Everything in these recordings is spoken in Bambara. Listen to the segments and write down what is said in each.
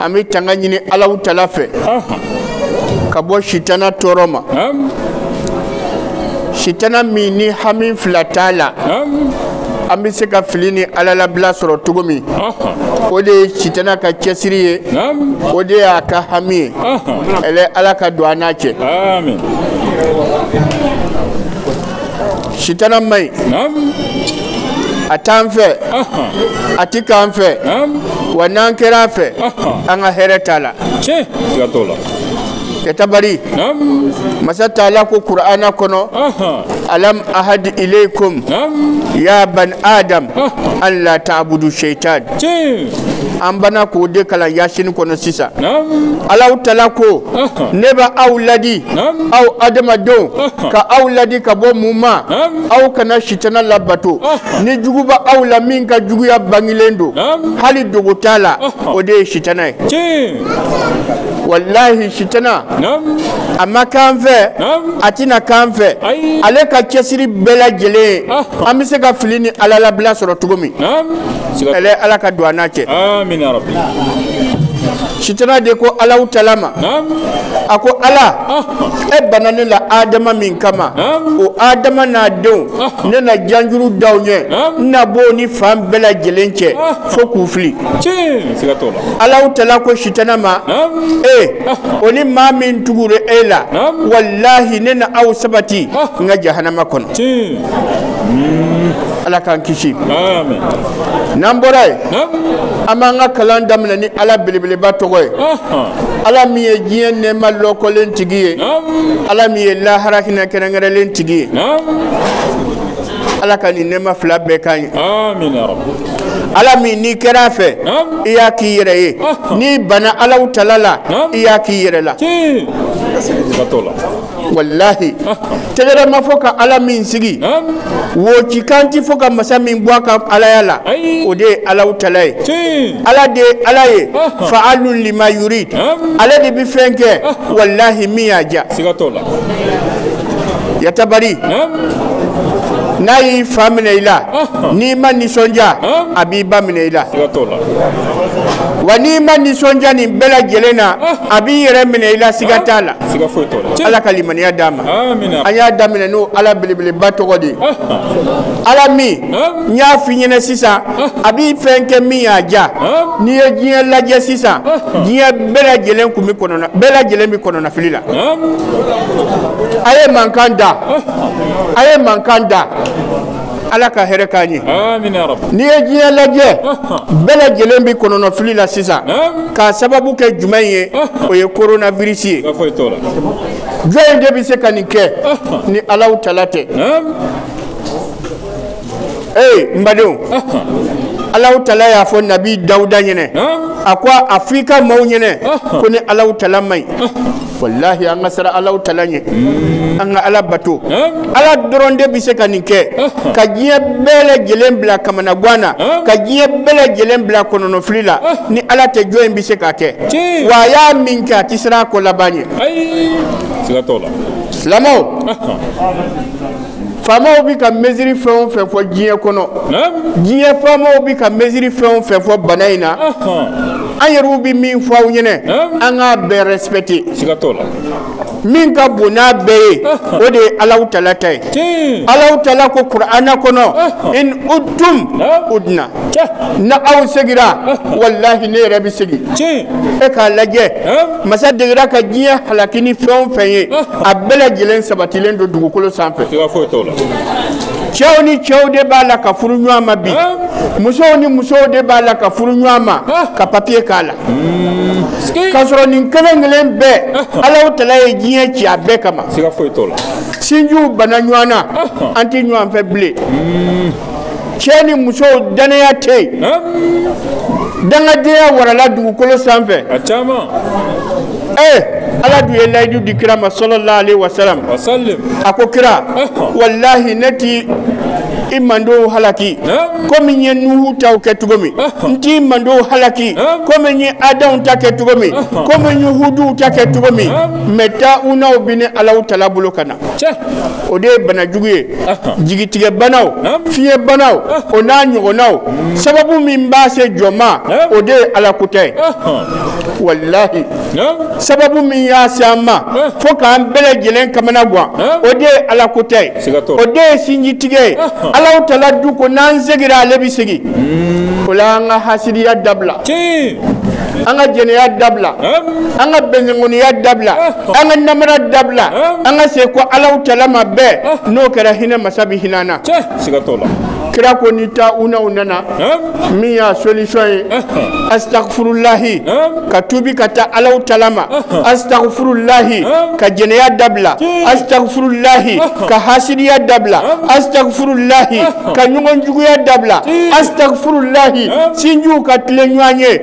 an bɛ tanga ɲini alaw tala fɛ ka bɔ sitana tɔɔrɔ ma sitana min ni hami fila t'a la an bɛ se ka fili ni ala labila sɔrɔ cogo min o de ye sitana ka cɛsiri ye o de y'a ka hami ye ɛlɛ ala ka don an n'a cɛ sitana man ɲi Naam. a t'an fɛ Aha. a ti k'an fɛ Naam. wa n'an kɛra a fɛ Aha. an ka hɛrɛ t'a la Tiɲɛ. Siga t'o la. kɛtabari Naam. masa taala ko kur'ana kɔnɔ Aha. alam ahad ilaykum Naam. ya ban adam Aha. an la ta'budu shaitan Tiɲɛ. an banna k'o de kalan yasini kɔnɔ sisan alaw tala ko ne bɛ aw ladi aw adamadenw ka aw ladi ka bɔ mun ma aw kana sitana labato nin juguba aw la min ka juguya bangilen don hali dogo t'a la o de ye sitana ye walahi sitana a ma k'an fɛ a tɛna k'an fɛ ale ka cɛsiri bɛɛ lajɛlen ye an bɛ se ka fili ni ala labila sɔrɔ cogo min ɛlɛ ala ka don an n'a cɛ sitana de ko alaw tala ma a ko ala e banna ne la adama min kama o adama n'a denw ne na janjuru da u ɲɛ n na bɔ ni fan bɛɛ lajɛlen cɛ fo k'u fili alaw tala ko sitana ma e o ni maa min tugura e la walahi ne na aw sabati n ka jahanama kɔnɔ ala k'an kisi n'an bɔra yen an b'an ka kalan daminɛ ni ala belebeleba tɔgɔ ye ala min ye diɲɛ nɛɛma lɔkɔlen tigi ye ala min ye lahara hinɛ kɛrɛnkɛrɛnlen tigi ye ala ka nin nɛɛma fila bɛɛ k'an ye ala min n'i kɛra a fɛ i y'a k'i yɛrɛ ye n'i banna alaw tala la i y'a k'i yɛrɛ la walahi tɛgɛrɛ ma fɔ ka ala min sigi woci kan ti fɔ ka masa min bɔ a ka alaya la o de ye alaw tala ye ala de ye ala ye fa'alun lima yurid ale de bi fɛn kɛ walahi min y'a diya yatabari n'a y'i fa minɛ i la n'i ma nisɔndiya a b'i ba minɛ i la wa n'i ma nisɔndiya nin bɛɛ lajɛlen na a b'i yɛrɛ minɛ i la siga t'a la siga foyi t'o la ala ka limaniya d'an ma amina an y'a daminɛ n'o ala belebeleba tɔgɔ de ye ala min n y'a f'i ɲɛna sisan a b'i fɛn kɛ min y'a diya n'i ye diɲɛ lajɛ sisan diɲɛ bɛɛ lajɛlen kun bɛ kɔnɔna bɛɛ lajɛlen bɛ kɔnɔnafili la a ye mankan da a ye mankan da ala ka hɛrɛ k'an ye n'i ye diɲɛ lajɛ bɛɛ lajɛlen bɛ kɔnɔnɔfili la sisan k'a sababu kɛ jumɛn ye o ye koronavirisi ye jɔni de bɛ se ka nin kɛ ni Alahu Taala tɛ ee n badenw Alahu Taala y'a fɔ nabi dawuda ɲɛnɛ a ko a fɔ i ka maaw ɲɛnɛ ko ne Alahu Taala man ɲi walahi an ka siran Alahu Taala ɲɛ an ka ala bato ala dɔrɔn de bɛ se ka nin kɛ ka diɲɛ bɛɛ lajɛlen bila kamanagan na ka diɲɛ bɛɛ lajɛlen bila kɔnɔnɔfili la ni ala tɛ jɔni bɛ se k'a kɛ wa a y'a min kɛ a tɛ siran a ko laban ɲɛ silamɛw faamaw bɛ ka mesure fɛn o fɛn fɔ diɲɛ kɔnɔ diɲɛ faamaw bɛ ka mesure fɛn o fɛn fɔ bana in na an yɛrɛw bɛ min fɔ aw ɲɛna an k'a bɛɛ respecter min ka bon n'a bɛɛ ye o de ye Alahu Taala ta ye Alahu Taala ko Kurana kɔnɔ in udtum udna n'aw segira walahi ne yɛrɛ bɛ segin e k'a lajɛ masa degera ka diɲɛ halaki ni fɛn o fɛn ye a bɛɛ lajɛlen sabatilen don dugukolo sanfɛ cɛw ni cɛw de b'a la ka furu ɲɔgɔn ma bi musow ni musow de b'a la ka furu ɲɔgɔn ma ka papiye k'a la hmm. k'a sɔrɔ nin kelen kelen bɛɛ Alahu Taala ye diɲɛ ci a bɛɛ kama sinjiw banna ɲɔgɔn na an tɛ ɲɔgɔn fɛ bilen hmm. cɛ ni muso dannaya tɛ yen Hein? dangadenya warala dugukolo sanfɛ A caman. ee ala dun ye layidu di kira ma salalahu alayhi wasalam Wa sallim. a ko kira Ɔhɔ. walahi ne ti i mantɔn halaki Hein? komi n ye nuhu taw kɛ cogo min Ɔhɔ. n t'i mantɔn halaki Hein? komi n ye ada ta kɛ cogo min Ɔhɔ. komi n ye hudu ta kɛ cogo min Hein? mɛ tawunaw bi ne Alahu Taala bolo ka na o de ye banajugu ye jigitigɛ banaw fiɲɛ banaw o n'a ɲɔgɔnnaw sababu min b'a se jɔn ma o de ye ala ko tɛ walahi sababu min y'a se an ma fo k'an bɛɛ lajɛlen kamanagan o de ye ala ko tɛ o de ye sinjitigɛ ye Alahu Taala dun ko n'an segira ale bɛ segin o la an ka hasidiya dabila an ka jɛnɛya dabila an ka bɛnkun dabila an ka namara dabila an ka sekɔ Alahu Taala ma bɛɛ n'o kɛra hinɛ masa bɛ hinɛ an na kira ko ni tawunaw nana min y'a solution ye astagfurulahi ka tubi ka taa Alahu Taala ma astagfurulahi ka jɛnɛya dabila astagfurulahi ka hasidiya dabila astagfurulahi ka ɲɔgɔn juguya dabila astagfurulahi sinjiw ka tilen ɲɔgɔn ye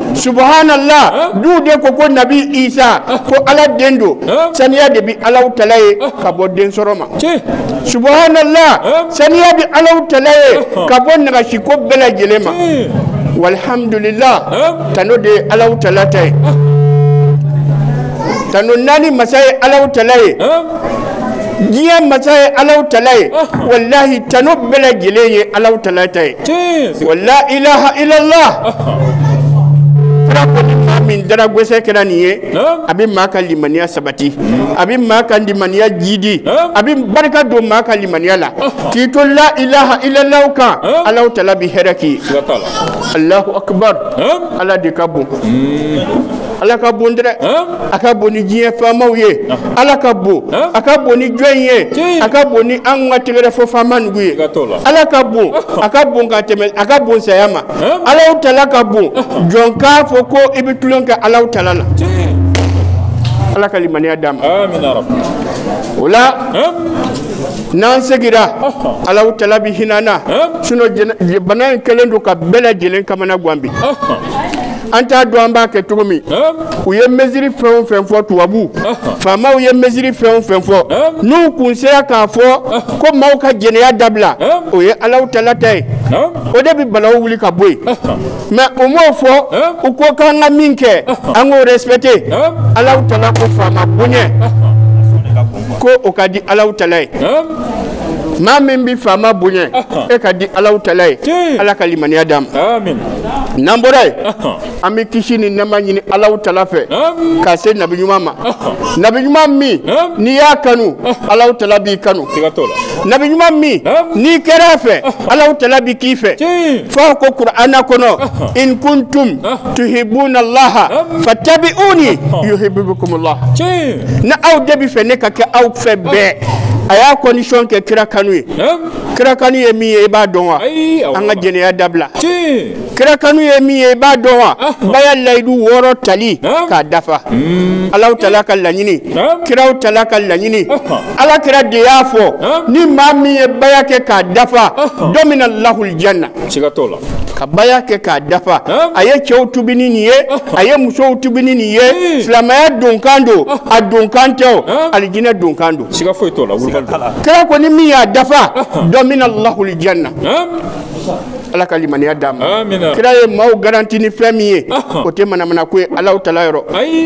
subhanallah dɔw de ko ko nabi isa ko ala den don saniya de bi alaw tala ye ka bɔ den sɔrɔ ma subhanallah saniya bi alaw tala ye ka bɔ nagasi ko bɛɛ lajɛlen ma walhamdulillah tano de ye alaw tala ta ye tano naani masa ye alaw tala ye diɲɛ masa ye alaw tala ye walahi tano bɛɛ lajɛlen ye alaw tala ta ye wa la ilaha illallah kira ko ni maa min dara gɛsɛ kɛra nin ye a bɛ maa ka limaniya sabati a bɛ maa ka limaniya jiidi a bɛ barika don maa ka limaniya la k'i to la ilaha illallah kan alaw tala bɛ hɛrɛ k'i ye alahu akubar ala de ka bon ala ka bon dɛ a ka bon ni diɲɛ faamaw ye ala ka bon a ka bon ni jɔn ye a ka bon ni an ka tɛgɛrɛ fɔ faama nugu ye ala ka bon a ka bon ka tɛmɛ a ka bon saya ma alaw tala ka bon jɔn k'a fɔ ko i bɛ tulon kɛ alaw tala la ala ka limaniya d'an ma o la n'an segira alaw tala bi hinɛ an na sinon bana in kɛlen don ka bɛɛ lajɛlen kamana gan bi an t'a dɔn an b'a kɛ cogo min u ye mesure fɛn o fɛn fɔ tubabu faamaw ye mesure fɛn o fɛn fɔ n'u kun sera k'a fɔ ko maaw ka jɛnɛya dabila o ye alaw tala ta ye o de bɛ balawu wuli ka bɔ yen mais u m'o fɔ u ko k'an ka min kɛ an k'o respecter alaw tala ko faama bonya ko o ka di alaw tala ye maa min bɛ faama bonya e ka di alaw tala ye ala ka limaniya d'an ma n'an bɔra yen an bɛ kisi ni nɛɛma ɲini alaw tala fɛ ka se nabi ɲuman ma nabi ɲuman min n'i y'a kanu alaw tala b'i kanu nabi ɲuman min n'i kɛra a fɛ alaw tala bi k'i fɛ fɔ ko kur'ana kɔnɔ in kuntum tuhibuna laha fatabi'uni yuhbibkumullah ni aw de b'a fɛ ne ka kɛ aw fɛ bɛɛ a y'a condition kɛ kira kanu ye kira kanu ye min ye i b'a dɔn wa an ka jɛnɛya dabila kira kanu ye min ye i b'a dɔn wa baya layidu wɔɔrɔ tali k'a dafa hmm. alaw tala ka laɲini kiraw tala ka laɲini ala kira de y'a fɔ ni maa min ye baya kɛ k'a dafa dɔmina lahul janna ka baya kɛ k'a dafa a ye cɛw tubi ni nin ye a ye musow tubi ni nin ye hmm. silamɛya donkan don a donkan tɛ o alijinɛ donkan don siga foyi t'o la kira ko ni min y'a dafa dɔmina lahul janna ala ka limaniya d'an ma kira ye maaw garanti ni fɛn min ye o tɛ manamana ko ye alaw tala yɔrɔ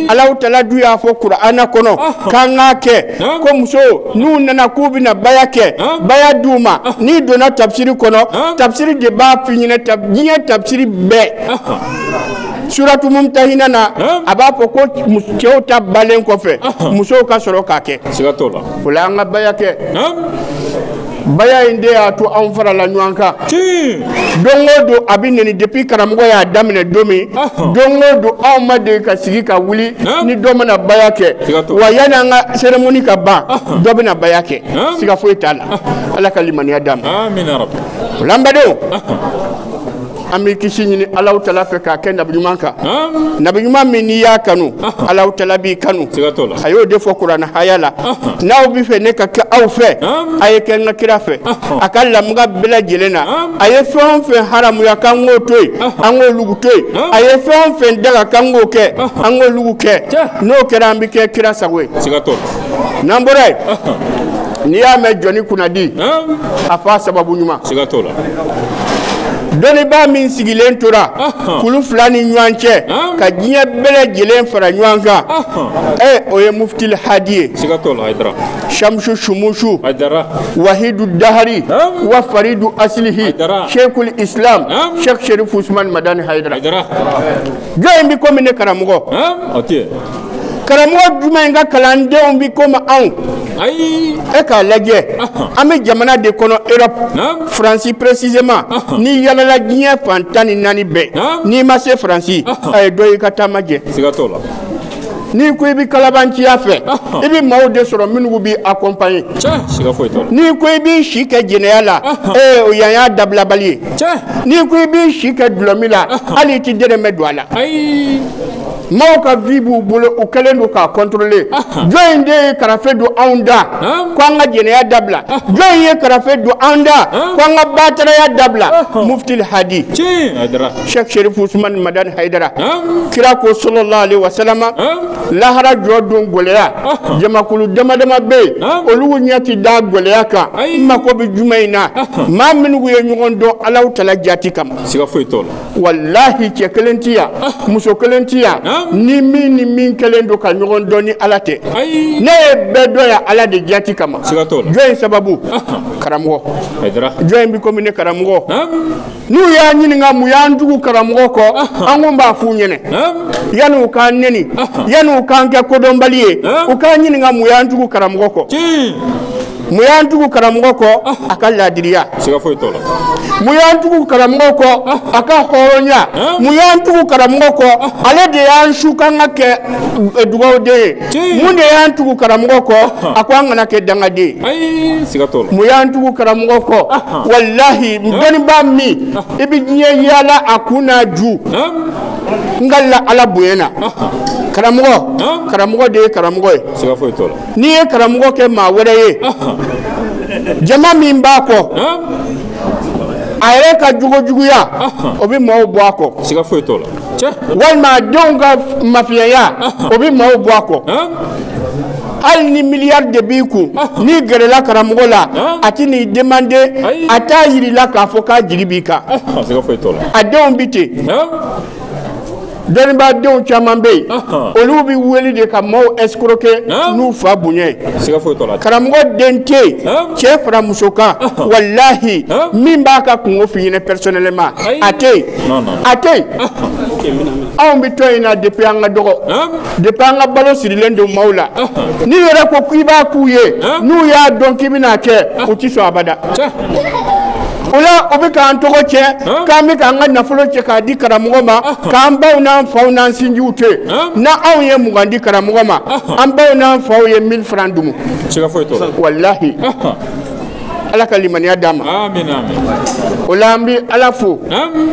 alaw tala dun y'a fɔ kur'ana kɔnɔ k'an k'a kɛ ko muso n'u nana k'u bɛna baya kɛ baya d'u ma n'i donna tabisiri kɔnɔ tabisiri de b'a f'i ɲɛna diɲɛ tabisiri bɛɛ suratu mumtahina na a b'a fɔ ko cɛw ta balen kɔfɛ musow ka sɔrɔ k'a kɛ o la an ka baya kɛ baya in de y'a to anw farala ɲɔgɔn kan don o don a bɛ nɛni depuis karamɔgɔ y'a daminɛ don min don o don anw ma deli ka sigi ka wuli ni dɔ ma na baya kɛ wa yanni an ka cérémonie ka ban dɔ bɛna baya kɛ siga foyi t'a la ala ka limaniya d'a ma o la n badenw an bɛ kisi ɲini Alahu tala fɛ k'a kɛ nabi ɲuman kan nabi ɲuman min n'i y'a kanu Alahu tala b'i kanu a y'o de fɔ kuranɛ haya la n'aw bɛ fɛ ne ka kɛ aw fɛ a ye kɛ n ka kira fɛ a ka lamuga bɛɛ lajɛlen na a ye fɛn o fɛn haramuya k'an k'o to yen an k'olugu to yen a ye fɛn o fɛn daga k'an k'o kɛ an k'olugu kɛ n'o kɛra an bɛ kɛ kira sago ye. n'an bɔra yen n'i y'a mɛn jɔni kunnadi a f'a sababu ɲuman siga t'o la dɔnnibaa min sigilen tora kulu fila ni ɲɔgɔn cɛ ka diɲɛ bɛɛ lajɛlen fara ɲɔgɔn kan ee o ye muftil hadi ye siga t'o la hayidara shamsu shumusu hayidara wahidu dahari wa faridu asilihi shekul islam shek sherifu usman madani hayidara jɔn in bi komi ne karamɔgɔ karamɔgɔ jumɛn ka kalandenw bɛ komi anw ayi e k'a lajɛ an bɛ jamana de kɔnɔ europe Naamu. faransi précisément Ahan. n'i yalala diɲɛ fan tan ni naani bɛɛ Naamu. n'i ma se faransi Ahan. a ye dɔ y'i ka taama jɛ siga t'o la n'i ko i bɛ kalabanciya fɛ Ahan. i bɛ maaw de sɔrɔ minnu b'i accompagner cɛ siga foyi t'o la n'i ko i b'i si kɛ jɛnɛya la Ahan. ee o yan y'a dabilabali ye cɛ n'i ko i b'i si kɛ dulɔmin la Ahan. hali i tɛ dɛrɛmɛ don a la ayi Maaw ka vie b'u bolo u kɛlen don k'a contrôler jɔn in de ye karafe don anw da ko an ka jɛnɛya dabila jɔn in ye karafe don an da ko an ka bataraya dabila Muftil Hadi Sɛki Serifu Usumani Madani Hayidara kira ko sɔlɔlahu alehi wasalama lahara jɔ don gɛlɛya jamakulu dama dama bɛ yen olu ɲɛ tɛ da gɛlɛya kan n mako bɛ jumɛn in na maa minnu ye ɲɔgɔn dɔn Alahu tala jaati kama. walahi cɛ kelen tɛ yan ah. muso kelen tɛ yan ah. ni min ni min kɛlen don ka ɲɔgɔn dɔn ni ala tɛ ne ye bɛɛ dɔn yan ala de jati kama jɔn in sababu ah. karamɔgɔ jɔn in bɛ komi ne karamɔgɔ n'u y'a ɲininka mun y'an tugu karamɔgɔ kɔ an ko b'a f'u ɲɛna yanni u k'an nɛni yanni u k'an kɛ kodɔnbali ye u k'an ɲininka mun y'an tugu karamɔgɔ kɔ mun y'an tugu karamɔgɔ kɔ a ka laadiriya siga foyi t'o la mun y'an tugu karamɔgɔ kɔ a ka hɔrɔnya mun y'an tugu karamɔgɔ kɔ ale de y'an su k'an ka kɛ eh, dugawuden ye Tiɲɛ. mun de y'an tugu karamɔgɔ kɔ a ko an kana kɛ dangaden ye ayi siga t'o la mun y'an tugu karamɔgɔ kɔ walahi dɔnnibaa min i bɛ diɲɛ yaala a kun n'a ju Hum, n ka la ala bonya na karamɔgɔ karamɔgɔ de ye karamɔgɔ ye siga foyi t'o la n'i ye karamɔgɔ kɛ maa wɛrɛ ye jama min b'a kɔ a yɛrɛ ka jogojuguya o bɛ maaw bɔ a kɔ siga foyi t'o la walima a denw ka mafiyaya o bɛ maaw bɔ a kɔ hali ni miliyari de b'i kun n'i gɛrɛla karamɔgɔ la a tɛn'i demander a t'a jir'i la k'a fɔ k'a jigi b'i kan a denw bɛ ten Dɔnnibadenw caman bɛ yen olu bɛ wele de ka maaw escroquer n'u fa bonya ye, siga foyi t'o la, karamɔgɔ den tɛ yen cɛ fara muso kan walahi min b'a ka kungo f'i ɲɛna personnellement a tɛ yen a tɛ yen anw bɛ tɔn in na depuis an ka dɔgɔ depuis an ka balo sirilen don maaw la n'i yɛrɛ ko k'i b'a k'u ye n'u y'a dɔn k'i bɛna a kɛ u tɛ sɔn abada o la o bɛ k'an tɔgɔ tiɲɛ k'an bɛ k'an ka nafolo cɛ k'a di karamɔgɔ ma k'an baw n'an faw n'an sinjiw to yen n'anw ye mugan di karamɔgɔ ma an baw n'an faw ye mille francs dumu walahi ala ka limaniya d'a ma o la an bɛ ala fo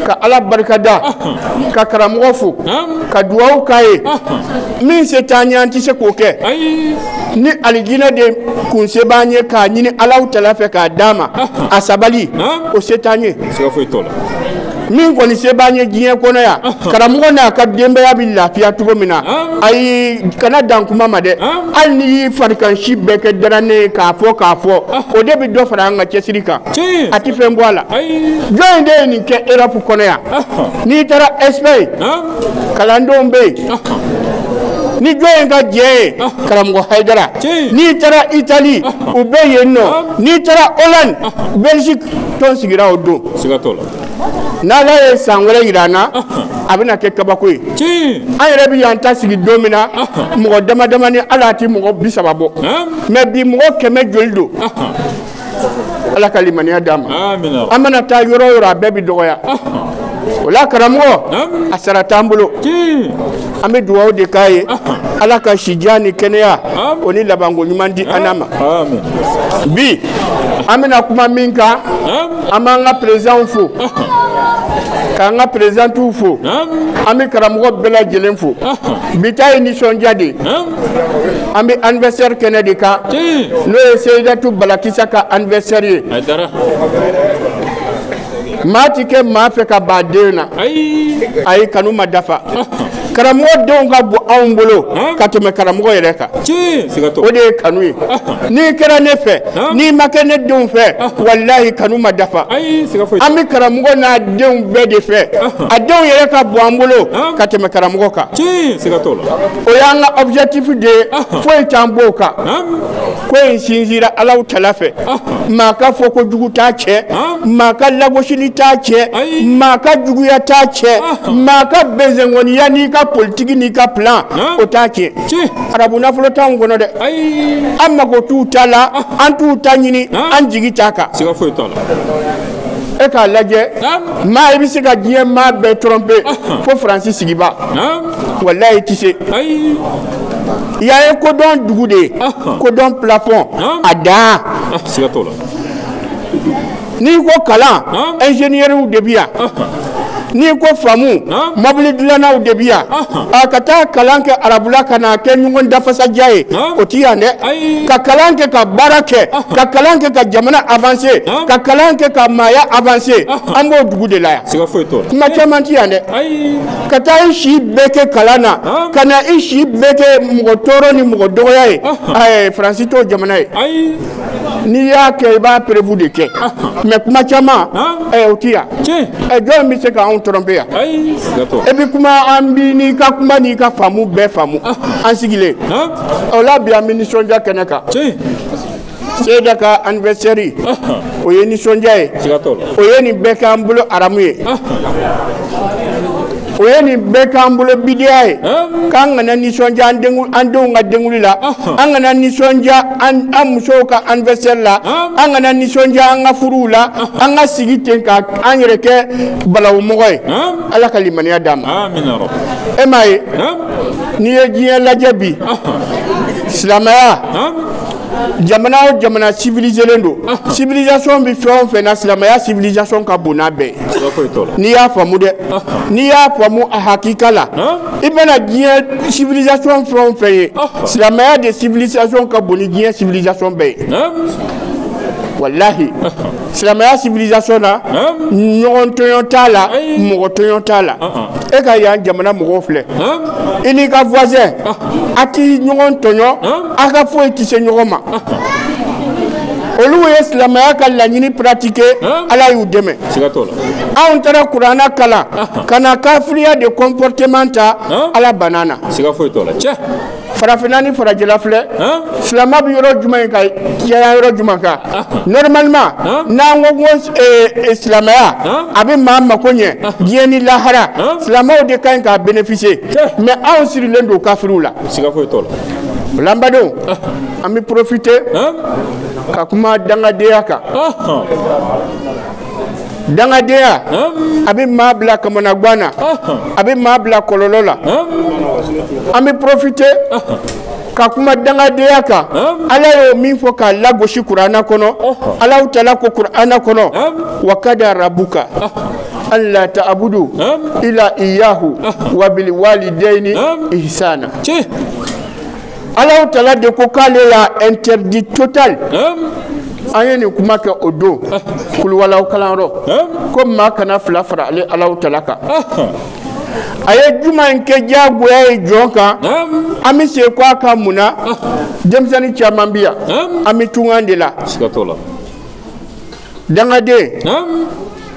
ka ala barika da ka karamɔgɔ fo ka dugawu k'a ye min se t'an ye an tɛ se k'o kɛ ni alijinɛ de kun se b'an ye k'a ɲini alahu taala fɛ k'a d'a ma a sabali o se t'an ye siga foyi t'o la min kɔni se b'an ye diɲɛ kɔnɔ yan karamɔgɔ n'a ka denbaya bɛ lafiya cogo min na ayi kana dan kuma ma dɛ hali n'i y'i farikansi bɛɛ kɛ daranɛn ye k'a fɔ k'a fɔ o de bɛ dɔ fara an ka cɛsiri kan Tiɲɛ. a tɛ fɛn bɔ a la Ayi. jɔni de ye nin kɛ erɔpu kɔnɔ yan n'i taara ɛsipayi kalandenw bɛ yen ni jɔni ka jɛ ye karamɔgɔ hayidara n'i taara itali u bɛ yen nɔ n'i taara hollande belgique tɔn sigira o don n'ala ye san wɛrɛ jira an na a bɛna kɛ kabako ye an yɛrɛ bɛ yan ta sigi don min na mɔgɔ dama damani hali a tɛ mɔgɔ bi saba bɔ mais bi mɔgɔ kɛmɛ joli don ala ka limaniya d'a ma an mana taa yɔrɔ o yɔrɔ a bɛɛ bɛ dɔgɔya o la karamɔgɔ a sara t'an bolo an bɛ dugawu de k'a ye ala ka sijan ni kɛnɛya o ni labanko ɲuman di an n'a ma bi an bɛna kuma min kan an b'an ka perezidanw fo k'an ka perezidantiw fo an bɛ karamɔgɔ bɛɛ lajɛlen fo bi ta ye nisɔndiya de ye an bɛ anniversaire kɛnɛ de kan n'o ye Seyidatu Balakisa ka anniversaire ye maa ti kɛ maa fɛ ka ban a den na ayi kanu ma dafa karamɔgɔ denw ka bon anw bolo ka tɛmɛ karamɔgɔ yɛrɛ kan o de ye kanu ye n'i kɛra ne fɛ n'i ma kɛ ne denw fɛ walahi kanu ma dafa an bɛ karamɔgɔ n'a denw bɛɛ de fɛ a denw yɛrɛ ka bon an bolo ka tɛmɛ karamɔgɔ kan o y'an ka objectif de ye foyi t'an b'o kan ko in sinzira Alahu tala fɛ maa ka fɔkojugu t'a cɛn maa ka lagosili t'a cɛn maa ka juguya t'a cɛn maa ka bɛnsɛnkɔniya n'i ka politiki n'i ka plan o t'a cɛn arabu nafolo t'anw kɔnɔ dɛ an mago t'u ta la an t'u ta ɲini an jigi t'a kan e k'a lajɛ maa i bɛ se ka diɲɛ maa bɛɛ tɔrɔnpe fo faransi sigibaa walayi i tɛ se i y'a ye kodɔn dugu de ye kodɔn pilafɔn a dan n'i ko kalan ɛnzeniyɛriw de bi yan n'i ko faamu mɔbili dilannaw de bi yan a ka taa kalan kɛ arabula ka na kɛ ɲɔgɔn dafasaja ye o ti yan dɛ ka kalan kɛ ka baara kɛ ka kalan kɛ ka jamana avanse ka kalan kɛ ka maaya avanse an b'o dugu de la yan kuma caman ti yan dɛ ka taa i si bɛɛ kɛ kalan na ka na i si bɛɛ kɛ mɔgɔ tɔɔrɔ ni mɔgɔ dɔgɔya ye faransi t'o jamana ye n'i y'a kɛ i b'a preuve de kɛ mɛ kuma caman o tɛ yan jɔn bɛ se k'anw tɔrɔnpe yan e bɛ kuma an b'i n'i ka kuma n'i ka faamu bɛɛ faamu an sigilen o la bi an bɛ nisɔndiya kɛnɛ kan Seyida ka anniversaire o ye nisɔndiya ye o ye nin bɛɛ k'an bolo aramu ye o ye nin bɛɛ k'an bolo bidiya ye k'an kana nisɔndiya an denw ka denkunli la an kana nisɔndiya an an musow ka anniversaire la an kana nisɔndiya an ka furuw la an ka sigi ten ka an yɛrɛ kɛ balawumɔgɔ ye ala ka limaniya d'an ma e m'a ye n'i ye diɲɛ lajɛ bi silamɛya jamana o jamana civiliselen don civilisation bɛ fɛn o fɛn na silamɛya civilisation ka bon n'a bɛɛ ye n'i y'a faamu dɛ n'i y'a faamu a hakika la i bɛna diɲɛ civilisation fɛn o fɛn ye silamɛya de civilisation ka bon ni diɲɛ civilisation bɛɛ ye walahi silamɛya civilisation na ɲɔgɔn tɔɲɔn t'a la mɔgɔ tɔɲɔn t'a la e ka yan jamana mɔgɔw filɛ i n'i ka voisin a ti ɲɔgɔn tɔɲɔn a ka foyi tɛ se ɲɔgɔn ma olu ye silamɛya ka laɲini pratike ala y'u dɛmɛ anw taara kuranna kalan ka na kafiriya de kɔnpɔrɔteman ta ala banna an na farafinna ni farajɛla filɛ silamɛ bɛ yɔrɔ jumɛn in ka caya yɔrɔ jumɛn kan normalement n'an ko ko eh, eh, silamɛya a bɛ maa mako ɲɛ diɲɛ ni lahara silamɛw de ka ɲi k'a bénéficier mais anw sirilen don kafiriw la la n badenw an bɛ porofite ka kuma dangadenya kan dangadenya a bɛ maa bila kamanagan na a bɛ maa bila kɔlɔlɔ la an bɛ porofite ka kuma dangadenya kan ala y'o min fɔ k'a lagosi kurana kɔnɔ Alahu tala ko kurana kɔnɔ wa kada rabuka an la taabudu ila iyahu wa bil walideyini isana tiɲɛ Alahu tala de ko k'ale y'a interdit total an ye nin kuma kɛ o don kuluwalahu kalanyɔrɔ ko maa kana fila fara ale Alahu tala kan a ye jumɛn kɛ diyagoya ye jɔn kan an bɛ segin kɔ a kan mun na denmisɛnnin caman bɛ yan an bɛ tungan de la dangaden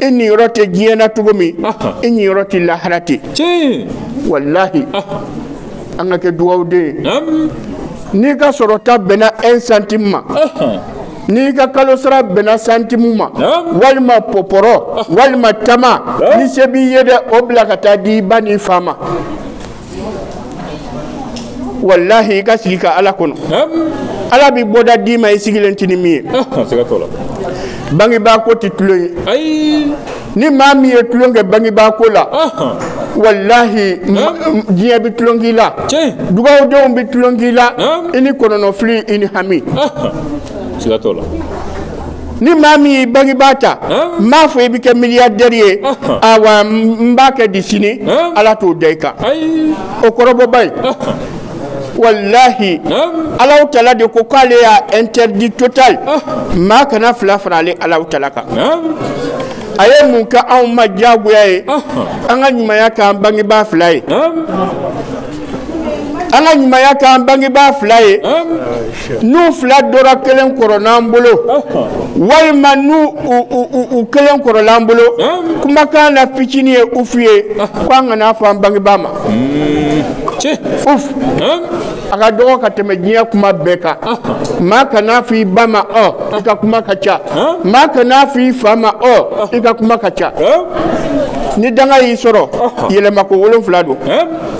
i niyɔrɔ tɛ diɲɛ na cogo min i niyɔrɔ tɛ lahara ten walahi an ka kɛ dugawuden n'i ka sɔrɔta bɛnna un centime ma n'i ka kalo sara bɛnna santimu ma walima pɔpɔrɔ walima tama ni se b'i ye dɛ o bila ka taa di i ba n'i fa ma walahi i ka sigi ka ala kɔnɔ ala bɛ bɔda d'i ma i sigilen tɛ ni min ye bangebaa ko tɛ tulon ye ni maa min ye tulon kɛ bangebaa ko la walahi diɲɛ bɛ tulon k'i la dugawudenw bɛ tulon k'i la i ni kɔnɔnɔfili i ni hami siga t'o la ni maa min y'i bangebaa ta n m'a fɔ i bɛ kɛ miliyardɛri ye awa n b'a kɛ di sini ala t'o da i kan o kɔrɔbɔba ye walahi Alahu tala de ko k'ale y'a interdit total maa kana fila fara ale Alahu tala kan a ye mun kɛ anw ma diyagoya ye an ka ɲumanya k'an bangebaa fila ye an ka ɲumanya k'an bangebaa fila ye n'u fila dɔ ra kelen kɔrɔl'an bolo walima n'u u kelen kɔrɔl'an bolo kumakan na fitinin ye ufu ye ko an kana fɔ an bangebaa ma uf a ka dɔgɔ ka tɛmɛ diɲɛ kuma bɛɛ kan maa kana fɔ i ba ma ɔ i ka kuma ka ca maa kana fɔ i fa ma ɔ i ka kuma ka ca ni danga y'i sɔrɔ yɛlɛmako wolonfila don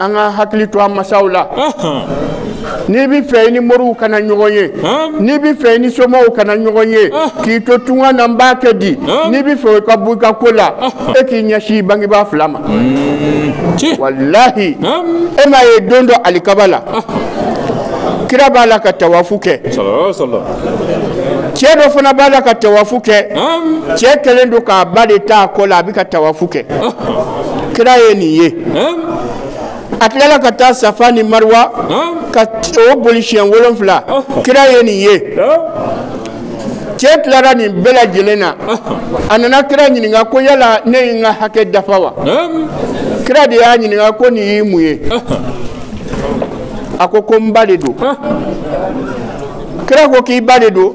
an ka hakili to an masaw la n'i bɛ fɛ i ni moriw kana ɲɔgɔn ye n'i bɛ fɛ i ni somaw kana ɲɔgɔn ye k'i to tunga na n b'a kɛ di n'i bɛ fɛ ka bɔ u ka ko la e k'i ɲɛsin i bangebaa fila ma walahi e m'a ye don dɔ alikaba la kira b'a la ka tawafu kɛ cɛ dɔ fana b'a la ka tawafu kɛ cɛ kɛlen don k'a ba de t'a kɔ la a bɛ ka tawafu kɛ kira ye nin ye a tilala ka taa safa ni mariwa ka o boli siɲɛ wolonfila kira ye nin ye cɛ tilara nin bɛɛ lajɛlen na a nana kira ɲininka ko yala ne ye n ka hakɛ dafa wa kira de y'a ɲininka ko nin y'i mun ye a ko ko n ba de don kira ko k'i ba de don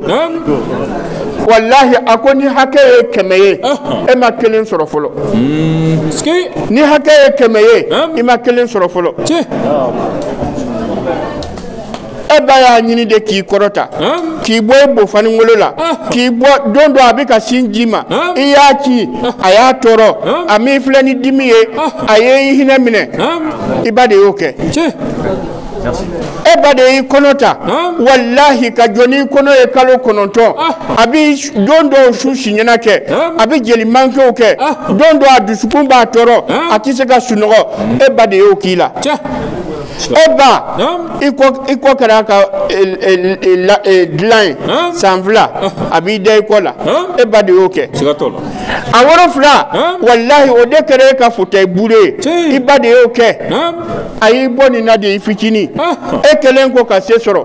walahi a ko ni hakɛ ye kɛmɛ ye e ma kelen sɔrɔ fɔlɔ ni hakɛ ye kɛmɛ ye i ma kelen sɔrɔ fɔlɔ e ba y'a ɲini de k'i kɔrɔta k'i bɔ e bofaningolo la k'i bɔ don dɔ a bɛ ka sin d'i ma i y'a kin a y'a tɔɔrɔ a m'i filɛ ni dimi ye a ye i hinɛ minɛ i ba de y'o kɛ e ba de y'i kɔnɔ ta walahi ka jɔ n'i kɔnɔ ye kalo kɔnɔntɔn a bɛ don dɔw su siɲɛna kɛ a bɛ jeli mankew kɛ don dɔw a dusukun b'a tɔɔrɔ a tɛ se ka sunɔgɔ e ba de y'o k'i la e ba i kɔ kɛra a ka dilan ye san fila a b'i da i kɔ la e ba de y'o kɛ a woro fila walahi o de kɛra e ka fauteuil bourré ye i ba de y'o kɛ. a y'i bɔ nin na de i fitinin e kɛlen kɔ ka se sɔrɔ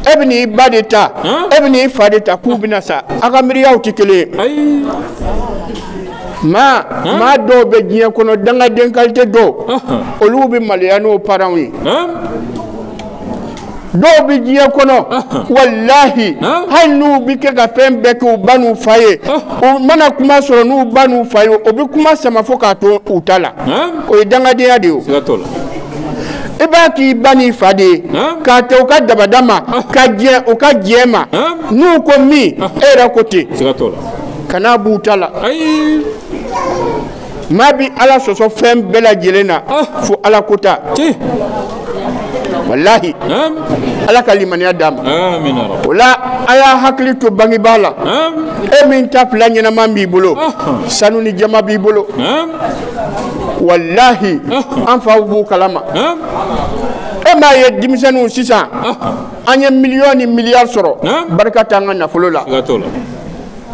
e bɛn'i ba de ta e bɛn'i fa de ta k'u bɛna sa a ka miiriyaw tɛ kelen ye maa maa dɔw bɛ diɲɛ kɔnɔ dangaden kalite dɔw olu bɛ maloya n'u paranw ye dɔw bɛ diɲɛ kɔnɔ walahi hali n'u bɛ kɛ ka fɛn bɛɛ kɛ u ba n'u fa ye u mana kuma sɔrɔ n'u ba n'u fa ye u bɛ kuma sama fo k'a to u ta la o ye dangadenya de ye o. i b'a k'i ba n'i fa de ye k'a kɛ u ka dabada ma ka diɲɛ u ka diɲɛ ma n'u ko min e yɛrɛ ko ten kana b'u ta la. maa bɛ ala sɔsɔ fɛn bɛɛ lajɛlen na ah. fo ala ko ta walahi ala ka limaniya d'a ma o la a y'a hakili to bangebaa la e min ta fila ɲɛnama b'i bolo ah. sanu ni jaman b'i bolo walahi ah. an faw b'o kalama e m'a ye denmisɛnninw sisan an ye miliyɔn ni miliyari sɔrɔ barika t'an ka nafolo la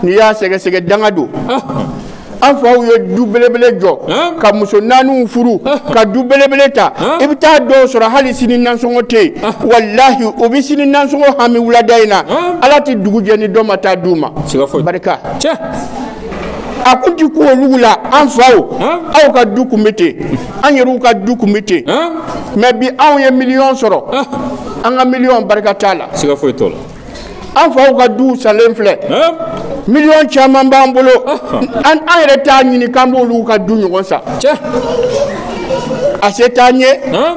n'i y'a sɛgɛsɛgɛ danga don an faw ye du belebele jɔ Hein? ka muso naaniw furu ka du belebele ta Hein? i bɛ taa dɔw sɔrɔ hali sini nansɔngɔ tɛ yen walahi u bɛ sini nansɔngɔ hami wulada in na Hein? ala tɛ dugu jɛ ni dɔ ma taa d'u ma siga foyi barika cɛ a kun ti ko olu la an faw Hein? aw ka du kun bɛ ten an yɛrɛw ka du kun bɛ ten han mɛ bi anw ye miliyɔn sɔrɔ an ka miliyɔn barika t'a la siga foyi t'o la an faw ka duw salen filɛ miliyɔn caman b'an bolo an yɛrɛ t'a ɲini k'an b'olu ka du ɲɔgɔn sa a se t'an ye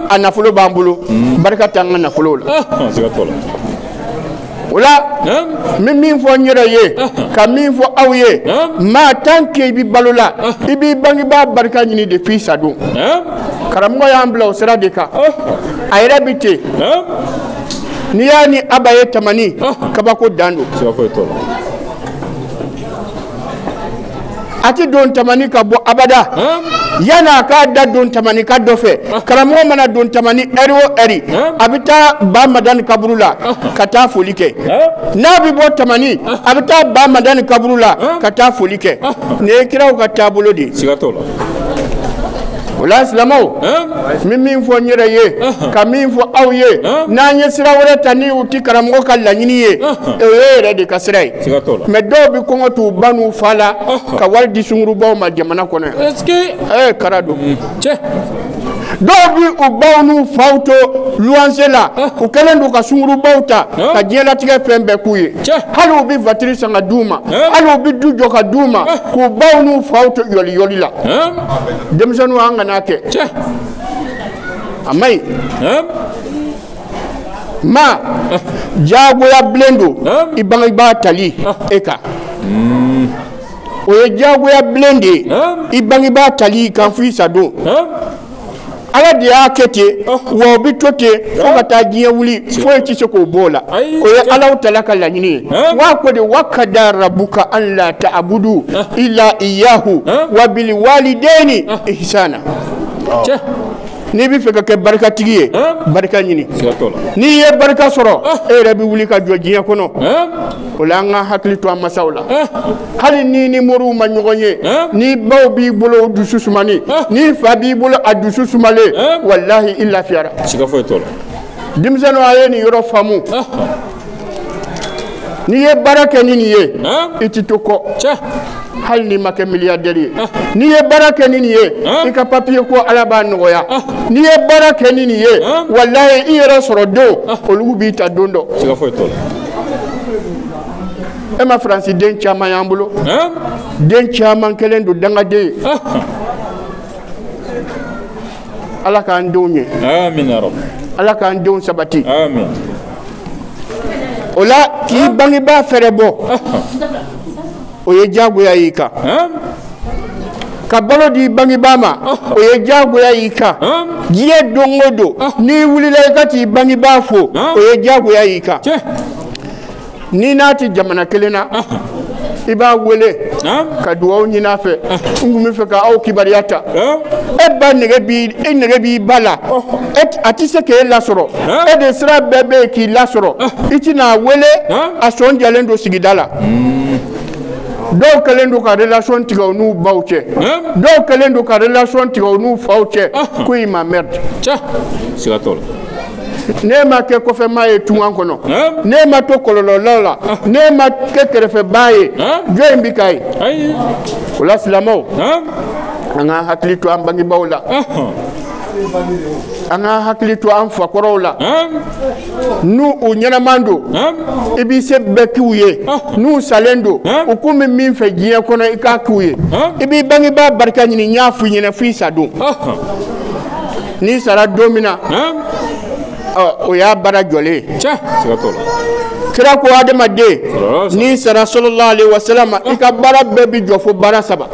a nafolo b'an bolo barika t'an ka nafolo la o la n bɛ min fɔ n yɛrɛ ye ka min fɔ aw ye maa tan ke i bɛ balo la i b'i bangebaa barika ɲini de f'i sadon karamɔgɔ y'an bila o sira de kan a yɛrɛ bɛ ten n'i y'a ni aba ye tamani kabako dan don a tɛ don tamani ka bɔ abada yan'a k'a da don tamanika dɔ fɛ karamɔgɔ mana don tamani ɛri o ɛri a bɛ taa ba madani kaburu la ka taa foli kɛ n'a bɛ bɔ tamani a bɛ taa ba madani kaburu la ka taa foli kɛ nin ye kiraw ka taabolo de ye. O la silamɛw n bɛ min fɔ n yɛrɛ ye ka min fɔ aw ye n'an ye sira wɛrɛ ta ni o tɛ karamɔgɔ ka laɲini ye o ye yɛrɛ de ka sira ye mɛ dɔw bɛ kɔngɔ t'u ba n'u fa la ka wari di sungurubaw ma jamana kɔnɔ yan kara don dɔw bɛ u baw n'u faw to luwanse la u kɛlen don ka sungurubaw ta ka diɲɛlatigɛ fɛn bɛɛ k'u ye hali u bɛ vatiri san ka d'u ma hali u bɛ du jɔ ka d'u ma k'u baw n'u faw to yɔliyɔli la denmisɛnninw an kan'a kɛ cɛ a man ɲi ɛn ma diyagoya bilen don Hein? i bangebaa tali e kan o ye diyagoya bilen de ye Hein? i bangebaa tali i kan fo i sadon ɛn ala de y'a kɛ ten wa o bɛ to ten fo ka taa diɲɛ wuli foyi tɛ se k'o b'o la o ye alahu taala ka laɲini ye wa ko di wa kada rabuka an la taabudu ila iyahu wa biliwalideni ihsana n'i bɛ fɛ ka kɛ barikatigi ye barika ɲini n'i ye barika sɔrɔ e yɛrɛ bɛ wuli ka jɔ diɲɛ kɔnɔ o la an ka hakili to an masaw la hali n'i ni moriw ma ɲɔgɔn ye ni baw b'i bolo dusu sumani ni fa b'i bolo a dusu sumalen walahi i lafiyara siga foyi t'o la denmisɛnninw a ye nin yɔrɔ faamu n'i ye baara kɛ ni nin ye i ti to kɔ hali n'i ma kɛ miliyadɛri ye n'i ye baara kɛ ni nin ye i ka papiye ko ala b'a nɔgɔya n'i ye baara kɛ ni nin ye walayi i yɛrɛ sɔrɔ den olu b'i ta don dɔ e ma faransi den caman y'an bolo den caman kɛlen don dangaden ye ala k'an denw ye ala k'an denw sabati o la k'i bangebaa fɛrɛ bɔ o ye diyagoya y'i kan ka balo d'i bangebaa ma o ye diyagoya y'i kan diɲɛ don o don n'i wulila i ka t'i bangebaa fo o ye diyagoya y'i kan n'i n'a tɛ jamana kelen na i b'a wele ka dugawu ɲini a fɛ n tun b'a fɛ ka aw kibaruya ta e ba e nege b'i ba la a tɛ se k'e lasɔrɔ e de sira bɛɛ bɛ yen k'i lasɔrɔ i tɛna a wele a sɔn jalen don sigida la dɔw kɛlen don ka relation tigɛ u n'u baw cɛ dɔw kɛlen don ka relation tigɛ u n'u faw cɛ k'u y'i emmerde n'e ma kɛ kɔfɛmaa ye tunga kɔnɔ n'e ma to kɔlɔlɔlaw la n'e ma kɛ kɛrɛfɛbaa ye jɔn in bɛ k'a ye o la silamɛw an k'an hakili to an bangebaaw la an k'an hakili to an fakɔrɔw la n'u ɲɛnaman don i b'i se bɛɛ k'u ye n'u salen don u kun bɛ min fɛ diɲɛ kɔnɔ i k'a k'u ye i b'i bangebaa barika ɲini n y'a f'i ɲɛna f'i sa don n'i sara don min na o y'a baara jɔlen ye kira ko adamaden n'i sara sallallahu alaihi wasallam i ka baara bɛɛ bi jɔ fo baara saba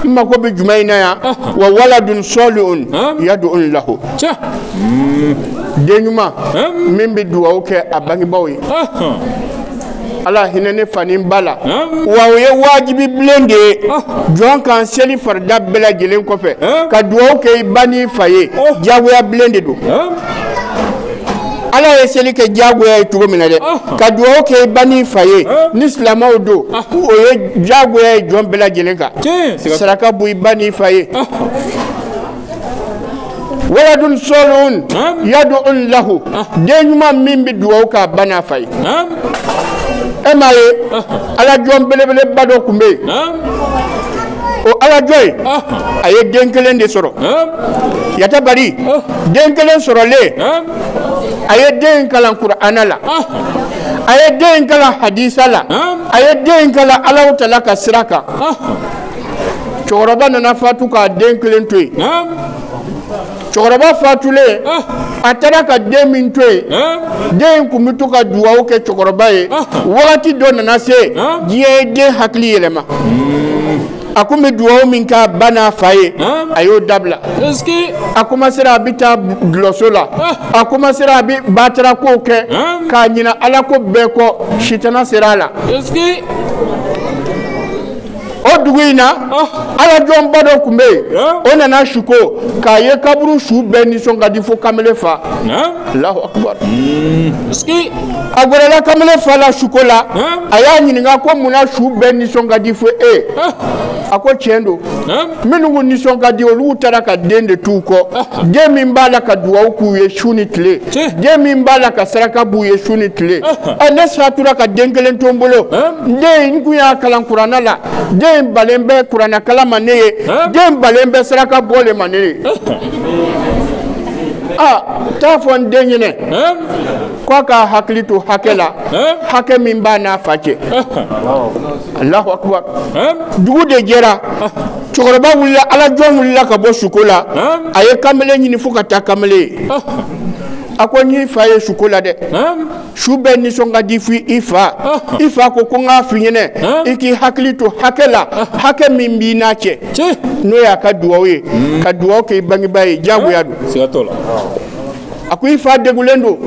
i mako bɛ jumɛn in na yan wa waladun salihun yad'un lahu den ɲuman min bɛ dugawu kɛ a bangebaaw ye ala hinɛ ne fa ni n ba la wa o ye wajibi bilen de ye jɔn kan seli farida bɛɛ lajɛlen kɔfɛ ka dugawu kɛ i ba n'i fa ye diyagoya bilen de don ala ye seli kɛ diyagoya ye cogo min na dɛ ka dugawu kɛ i ba n'i fa ye ni silamɛw don o ye diyagoya ye jɔn bɛɛ lajɛlen kan saraka bɔ i ba n'i fa ye Waladun salihun yad'un lahu den ɲuman min bɛ dugawu k'a ba n'a fa ye e m'a ye alajɔn belebeleba dɔ tun bɛ yen o alajɔn in a ye den kelen de sɔrɔ yatabari den kelen sɔrɔlen a ye den kalan kurana la a ye den kalan hadisa la a ye den kalan ala taala ka sira kan cɛkɔrɔba nana fatu k'a den kelen to yen cɛkɔrɔba fatulen a taara ka den min to yen den in tun bɛ to ka dugawu kɛ cɛkɔrɔba ye wagati dɔ nana se diɲɛ ye den hakili yɛlɛma a tun bɛ dugawu min k'a ba n'a fa ye a y'o dabila a komasera a bɛ taa dulɔso la a komasera a bɛ batara kow kɛ ka ɲinɛ ala ko bɛɛ kɔ sitana sera a la o dugu in na alajɔnba dɔ tun bɛ yen o nana suko k'a ye kaburu su bɛɛ nisɔn ka di fo kamalen fa alahu akubar a gɛrɛla kamalen fa la suko la a y'a ɲininka ko mun na su bɛɛ nisɔn ka di fo e a ko tiɲɛ don minnu nisɔn ka di olu taara ka den de t'u kɔ den min b'a la ka dugawu k'u ye su ni tile den min b'a la ka saraka b'u ye su ni tile ɛ ne satura ka den kelen to n bolo den n kun y'a kalan kurana la den balen bɛ kurana kalan ma ne ye den balen bɛ saraka bɔli ma ne ye aa t'a fɔ n den ɲɛnɛ k'a k'a hakili to hakɛ la hakɛ min b'a n'a fa cɛ alahu akubar dugu de jɛra cɛkɔrɔba wulila alajɔn wulila ka bɔ suko la a ye kamalen ɲini fo ka taa kamalen ye a ko n y'i fa ye suko la dɛ su bɛɛ nisɔn ka di f'i i fa i fa ko ko n k'a f'i ɲɛnɛ i k'i hakili to hakɛ la hakɛ min b'i n'a cɛ n'o y'a ka duwawu ye ka duwawu kɛ i bangebaa ye diyagoya don a ko i fa degulen don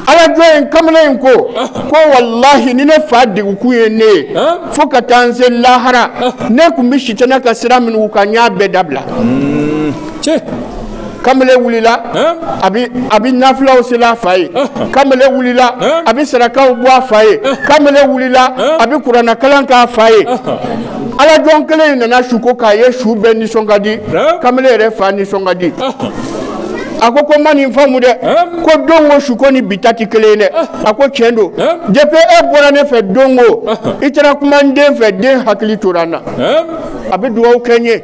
alajɔn in kamalen in ko ko walahi ni ne fa degukun ye ne ye fo ka taa n se lahara ne tun bɛ sitana ka sira minnu kan n y'a bɛɛ dabila kamalen wulila a bɛ nafilaw seli a fa ye kamalen wulila a bɛ sarakaw bɔ a fa ye kamalen wulila a bɛ kuranakalan k'a fa ye alajɔn kelen in nana suko k'a ye su bɛɛ nisɔn ka di kamalen yɛrɛ fa nisɔn ka di a ko ko n ma nin faamu dɛ ko don ko suko ni bi ta tɛ kelen ye dɛ a ko tiɲɛ don depuis e bɔra ne fɛ don ko i taara kuma n den fɛ den hakili tora n na a bɛ dugawu kɛ n ye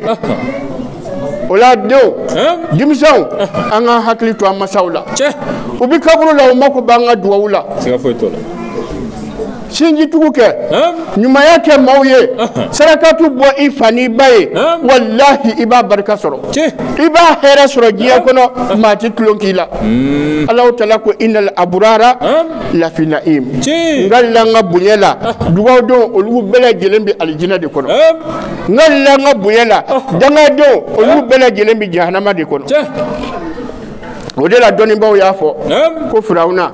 o la denw denmisɛnw an ka hakili to an masaw la u bɛ kaburu la u mako b'an ka dugawu la. sinjitugu kɛ ɲumanya kɛ maaw ye sarakatu bɔ i fa n'i ba ye walahi i b'a barika sɔrɔ i b'a hɛrɛ sɔrɔ diɲɛ kɔnɔ maa tɛ tulon k'i la hmm. ala taala ko inali aburara lafi nayimi n kalila n ka bonya la dugadenw olu bɛɛ lajɛlen bɛ alijinɛ de kɔnɔ n kalila n ka bonya la dangadenw olu bɛɛ lajɛlen bɛ jahanama de kɔnɔ o de la dɔnnibaaw y'a fɔ ko firawuna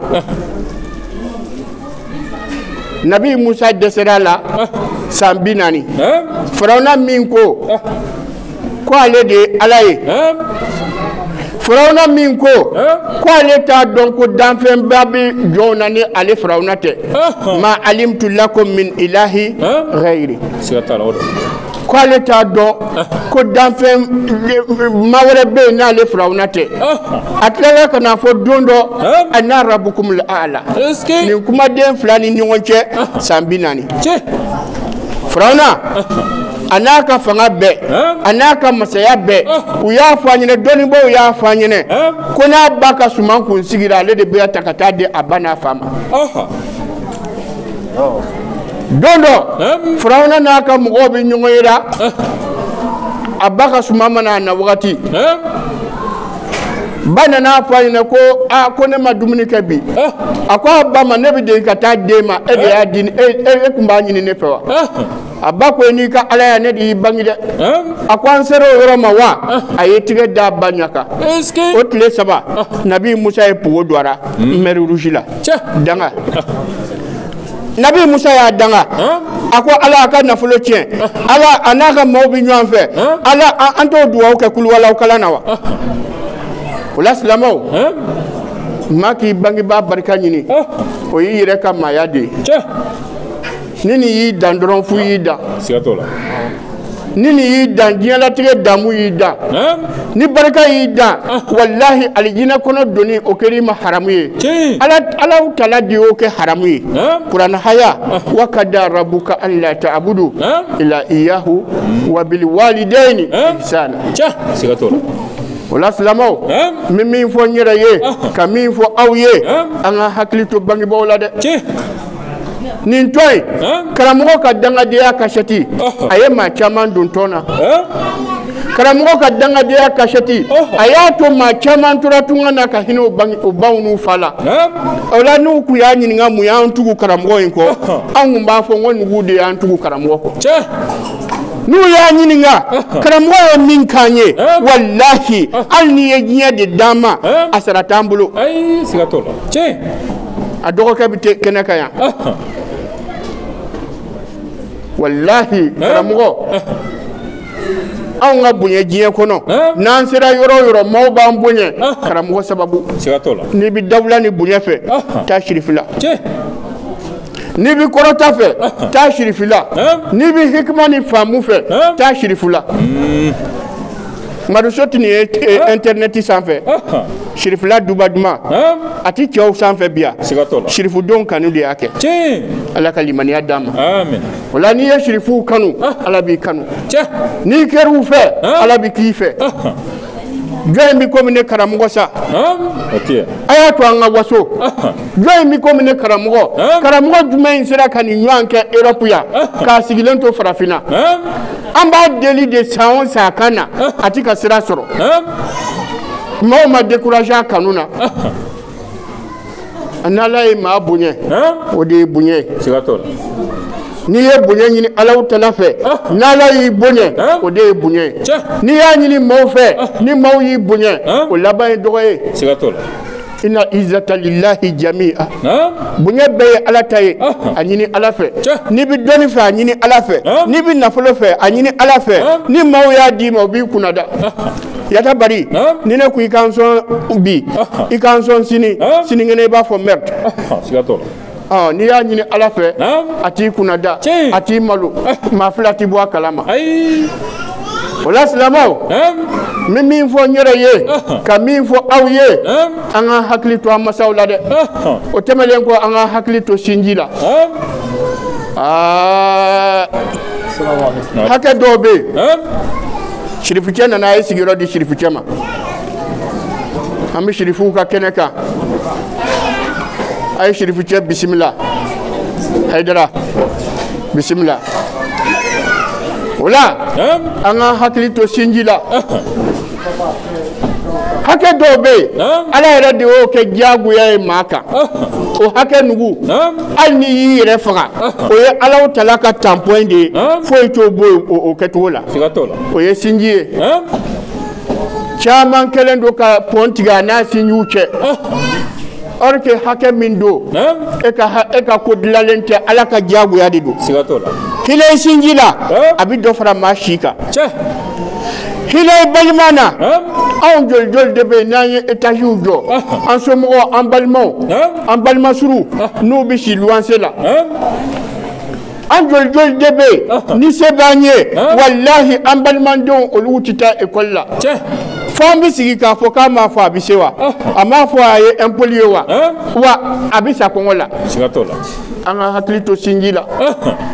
nabi musa dɛsɛra a la san bi naani farawuna min ko ko ale de ye ala ye farawuna min ko ko ale t'a dɔn ko danfɛnba bɛ jɔnw na ni ale farawuna tɛ ma alimtu lakum min ilahi ghayri siga t'a la o don ko ale t'a dɔn ko danfɛn ma wɛrɛ bɛ yen n'ale firawuna tɛ a tilala ka na fɔ don dɔ ana rabukumul a'la nin kumaden fila ni ɲɔgɔn cɛ san bi naani firawuna a n'a ka fanga bɛɛ a n'a ka masaya bɛɛ u y'a fɔ an ɲɛna dɔnnibaaw y'a fɔ an ɲɛna ko n'a ba ka suman kun sigira ale de b'a ta ka taa di a ba n'a fa ma. don dɔ farauna n'a ka mɔgɔw bɛ ɲɔgɔnye la a ba ka suman ma na a na wagati ba nana fɔ a ɲɛna ko aa ko ne ma dumuni kɛ bi a ko a ba ma ne bɛ deli ka taa d'e ma e de y'a di e kun b'a ɲini ne fɛ wa a ba ko n'i ka alaya ne de y'i bange dɛ a ko an sera o yɔrɔ ma wa a ye tigɛ d'a ba ɲa kan o tile saba nabi musa ye pogo don a la mer rouge la danga nabi musa y'a danga a ko ala a ka nafolo tiɲɛ ala a n'a ka maaw bɛ ɲɔgɔn fɛ ala an t'o dugawu kɛ kuluwalaw kalan na wa o la silamɛw maa k'i bangebaa barika ɲini o y'i yɛrɛ ka maaya de ye ni nin y'i dan dɔrɔn fu y'i dan siga t'o la ni nin y'i dan diɲɛlatigɛ damu y'i dan ni barika y'i dan ah. walahi alijinɛ kɔnɔ donni o kɛra i ma haramu ye alahu tala de y'o kɛ haramu ye kuranɛ haya ah. wa kada rabuka an la ta'budu ila iyahu wa bil walidaini ihsana siga t'o la o la silamaw n bɛ min fɔ n yɛrɛ ye ah. ka min fɔ aw ye an ka hakili to bangebaaw la dɛ nin to yen karamɔgɔ ka dangadenya kasɛti a ye maa caman don tɔn na karamɔgɔ ka dangadenya kasɛti a y'a to maa caman tora tunga na ka hinɛ u ba n'u fa la o la n'u kun y'a ɲininka mun y'an tugu karamɔgɔ in kɔ anw kun b'a fɔ n ko nugu de y'an tugu karamɔgɔ kɔ n'u y'a ɲininka karamɔgɔ ye min k'an ye walahi hali n'i ye diɲɛ de d'an ma a sara t'an bolo a dɔgɔkɛ bɛ kɛnɛ kan yan walahi karamɔgɔ anw ka bonya diɲɛ kɔnɔ n'an sera yɔrɔ o yɔrɔ maaw b'an bonya karamɔgɔ sababu siga t'o la n'i bɛ dawula ni bonya fɛ taa sirifi la cɛ n'i bɛ kɔrɔta fɛ taa sirifi la n'i bɛ hikima ni faamu fɛ taa sirifi la maduso tun ye intɛrnɛti eh, sanfɛ sirifila duba duman a tɛ cɛw sanfɛ bi yan sirifudonw kanu de y'a kɛ ala ka limaniya d'a ma o la n'i ye sirifuw kanu ala b'i kanu n'i kɛr'u fɛ ala bɛ k'i fɛ jɔni bɛ komi ne karamɔgɔ sa a y'a to an ka waso jɔni bɛ komi ne karamɔgɔ karamɔgɔ jumɛn in sera ka nin ɲɔgɔn kɛ erɔpu yan k'a sigilen to farafinna an b'a deli de san o san a ka na a ti ka sira sɔrɔ maaw ma découragé a kanu na n'ala ye maa bonya o de ye bonya ye n'i ye bonya ɲini alahu tala fɛ n'ala y'i bonya o de ye bonya ye n'i y'a ɲini maaw fɛ ni maaw y'i bonya o laban ye dɔgɔya ye inna izata lilahi jami'a bonya bɛɛ ye ala ta ye a ɲini ala fɛ n'i bɛ dɔnni fɛ a ɲini ala fɛ n'i bɛ nafolo fɛ a ɲini ala fɛ ni maaw y'a d'i ma o b'i kunnada yata bari ni ne ko i ka n sɔn bi i ka n sɔn sini sinikɛnɛ i b'a fɔ merde ɔ n'i y'a ɲini ala fɛ Naam. a t'i kunnada Tiɲɛ. a t'i malo maa fila ti bɔ a kalama ayi o la silamɛw naam n bɛ min fɔ n yɛrɛ ye Ɔhɔn. ka min fɔ aw ye naam an ka hakili to an masaw la dɛ ɔhɔn o tɛmɛnen kɔ an ka hakili to sinji la naam Aa, hakɛ dɔw bɛ yen naam sirifucɛ nana a ye sigiyɔrɔ di sirifucɛ ma an bɛ sirifuw ka kɛnɛ kan a ye sirifucɛ bisimila hayidara bisimila o la an ka hakili to sinji la hakɛ dɔw bɛ yen ala yɛrɛ de y'o kɛ diyagoya ye maa kan o hakɛ nugu hali n'i y'i yɛrɛ faga o ye alahu tala ka tanpɔn de ye foyi t'o bɔ o kɛcogo la o ye sinji ye caman kɛlen don ka pɔn tigɛ a n'a sinjiw cɛ or que hakɛ min don e ka ha- e ka ko dilanlen tɛ ala ka diyagoya de don siga t'o la hinɛ i sinji la Eh? a bɛ dɔ fara maa si kan cɛ hinɛ i balima na Naam. anw joli joli de bɛ yen n'an ye etaziw jɔ an somɔgɔw an balimaw Naam. an balima suruw n'u bɛ si luwanse la Naam. an joli joli de bɛ yen ni se b'an ye walahi an balimadenw olu tɛ taa ekɔli la fo an bɛ sigi k'a fɔ k'a m'a fɔ a bɛ se wa a m'a fɔ a ye impoli ye wa wa a bɛ sa kɔngɔ la an ka hakili to sinji la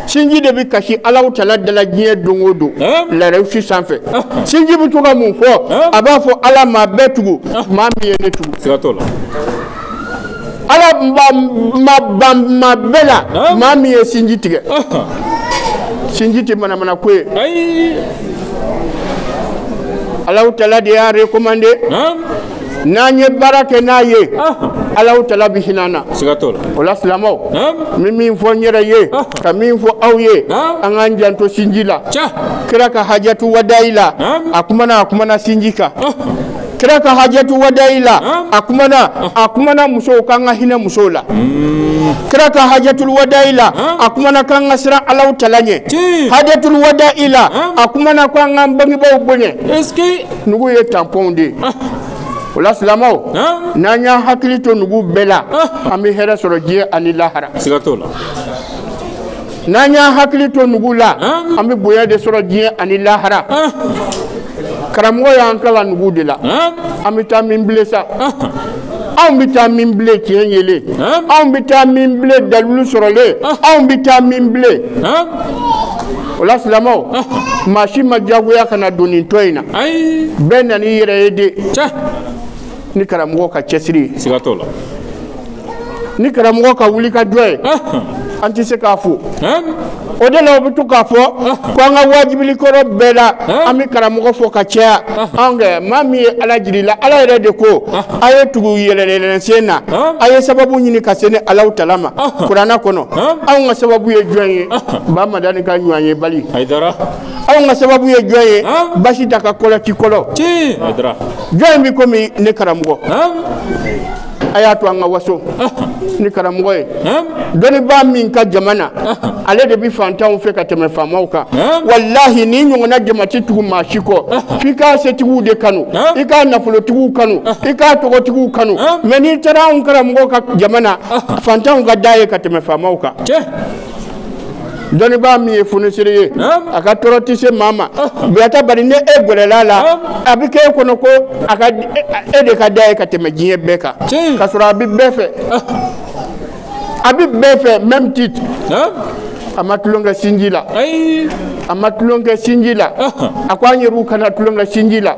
sinji de bɛ kasi alahu tala da la diɲɛ don o don larasi sanfɛ sinji bɛ to ka mun fɔ a b'a fɔ ala maa bɛɛ tugu maa min ye ne tugu ala ma bɛɛ la maa min ye sinji tigɛ sinji tɛ manamana ko ye alahu tala de y'a recommandé n'an ye baara kɛ n'a ye alahu tala bɛ hinɛ an na o la silamɛw n bɛ min fɔ n yɛrɛ ye ka min fɔ aw ye an k'an janto sinji la kira ka hajatu wadayi la a kumana a kumana sinji kan kira ka hajatu wadayi la a kumana a kumana musow k'an ka hinɛ musow la kira ka hajatul wadayi la a kumana k'an ka siran alahu tala ɲɛ Tiɲɛ. hajatul wadayi la a kumana k'an k'an bangebaaw bonya nugu ye tampon de ye o la silamaw Hein? n'an y'an hakili to nugu bɛɛ la an bɛ hɛrɛ sɔrɔ diɲɛ ani lahara Siga t'o la. n'an y'an hakili to nugu la an bɛ bonya de sɔrɔ diɲɛ ani lahara karamɔgɔ y'an kalan nugu de la an bɛ taa min bilen sa anw bɛ taa min bilen tiɲɛ yelen anw bɛ taa min bilen dalilu sɔrɔlen anw bɛ taa min bilen o la silamɛw maa si ma diyagoya ka na don nin tɔn in na bɛɛ nan'i yɛrɛ ye de ni karamɔgɔ ka cɛsiri siga t'o la ni karamɔgɔ ka wuli ka jɔ ye an tɛ se k'a fo o de la o bɛ to k'a fɔ ko an ka wajibili kɔrɔ bɛɛ la an bɛ karamɔgɔ fo ka caya anw kɛ maa min ye ala jiri la ala yɛrɛ de ko a ye tugu yɛlɛnyɛlɛn sen na a ye sababu ɲini ka se ni alahu tala ma kurana kɔnɔ anw ka sababu ye jɔn ye ba madani ka ɲɔgɔnyebali anw ka sababu ye jɔn ye basitan ka kolo ci kolo jɔn bɛ komi ne karamɔgɔ a y'a to an ka waso ni karamɔgɔ ye dɔnnibaa min ka jama na ale de bɛ fantanw fɛ ka tɛmɛ faamaw kan walahi nin ɲɔgɔnna jama tɛ tugu maa si kɔ f'i ka setigiw de kanu i ka nafolotigiw kanu i ka tɔgɔtigiw kanu mais n'i taara anw karamɔgɔ ka jama na fantanw ka d'a ye ka tɛmɛ faamaw kan dɔnnibaa min ye fonisire ye a ka tɔɔrɔ tɛ se maa ma buyata bari ni e gɛrɛl'a la a bɛ k'e kɔnɔ ko a ka e de ka d'a ye ka tɛmɛ diɲɛ bɛɛ kan ka sɔrɔ a bɛ bɛɛ fɛ a bɛ bɛɛ fɛ même titre a ma tulon kɛ sinji la a ma tulon kɛ sinji la a ko an yɛrɛw kana tulon kɛ sinji la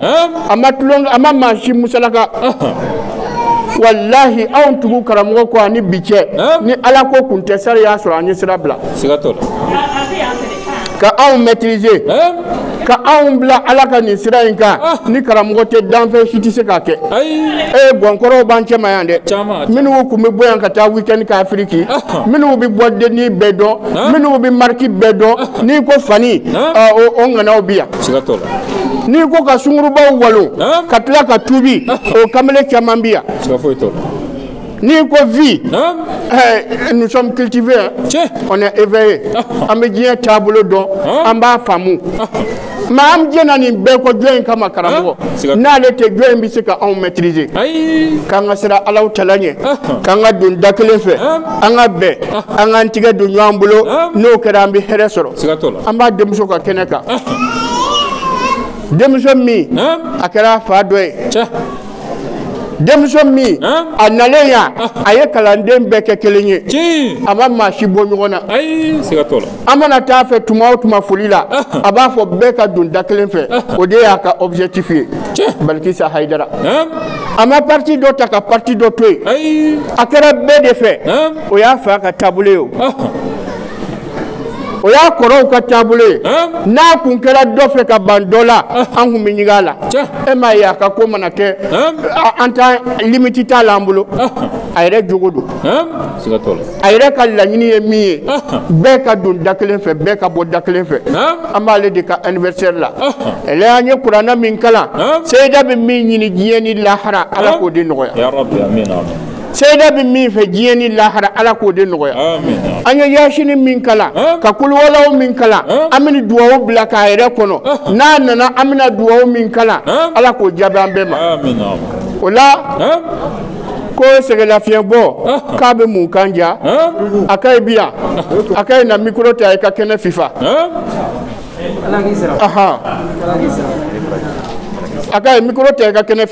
a ma tulon a ma maa si musalaka walahi anw tugu karamɔgɔ kɔ ani bi cɛ ni ala ko kun tɛ sari y'a sɔrɔ an ye sira bila ka anw maîtriser ka anw bila ala ka nin sira in kan ah. ni karamɔgɔ tɛ danfɛn si tɛ se k'a kɛ ee gɔnkɔrɔw b'an cɛma yan dɛ minnu kun bɛ bɔ yan ka taa weekend kɛ afiriki ah. minnu bɛ bɔ denni bɛɛ dɔn minnu bɛ mariki bɛɛ dɔn n'i ko fani o ŋanaw bi yan n'i ko ka sungurubaw walo ka tila ka tubi o kamalen caman bi yan n'i ko vie nous sommes cultivés on est éveillés an bɛ diɲɛ taabolo dɔn an b'a faamu Mais an jɛna nin bɛɛ kɔ jɔn in kama karamɔgɔ n'ale tɛ jɔn in bɛ se ka anw maîtriser k'an ka siran Alahu Taala ɲɛ k'an ka don da kelen fɛ an ka bɛn an k'an tigɛ don ɲɔgɔn bolo n'o kɛra an bɛ hɛrɛ sɔrɔ an b'a denmuso ka kɛnɛ kan denmuso min a kɛra a fa dɔ ye denmuso min a nalen yan a ye kalanden bɛɛ kɛ kelen ye a ma maa si bɔ ɲɔgɔn na an mana taa a fɛ tuma o tuma foli la a b'a fɔ bɛɛ ka don da kelen fɛ o de y'a ka objectif ye balikisa hayidara a ma parti dɔ ta ka parti dɔ to yen a kɛra bɛɛ de fɛ o y'a fa ka taabolo ye o o y'a kɔrɔw ka taabolo ye n'a kun kɛra dɔ fɛ ka ban dɔ la an kun bɛ ɲigin a la e m'a ye a ka ko mana kɛ an ta limite t'a la an bolo a yɛrɛ jogo don a yɛrɛ ka laɲini ye min ye bɛɛ ka don da kelen fɛ bɛɛ ka bɔ da kelen fɛ an b'ale de ka anniversaire la ɛlɛ an ye kuranɛ min kalan seyida bɛ min ɲini diɲɛ ni lahara ala k'o de nɔgɔya Seyida bɛ min fɛ diɲɛ ni lahara Ala k'o de nɔgɔya. Aami. An ye yaasini min kalan. An! Ka kuluwalaw min kalan. An! An bɛ nin duwawu bila k'a yɛrɛ kɔnɔ. Ɔnhɔn! N'a nana an bɛna duwawu min kalan. An! Ala k'o jaabi an bɛɛ ma. Aami yaa Rabi! O la. An! Ko sɛgɛlafiɲɛbɔ. Ɔnhɔn! K'a bɛ mun kan ja? An! Akayi bi yan? Akayi na micro ta i ka kɛnɛ fifa. An! Ala k'i sara. Ahan. Ala k'i sara. Akayi micro ta i ka kɛnɛ fifa.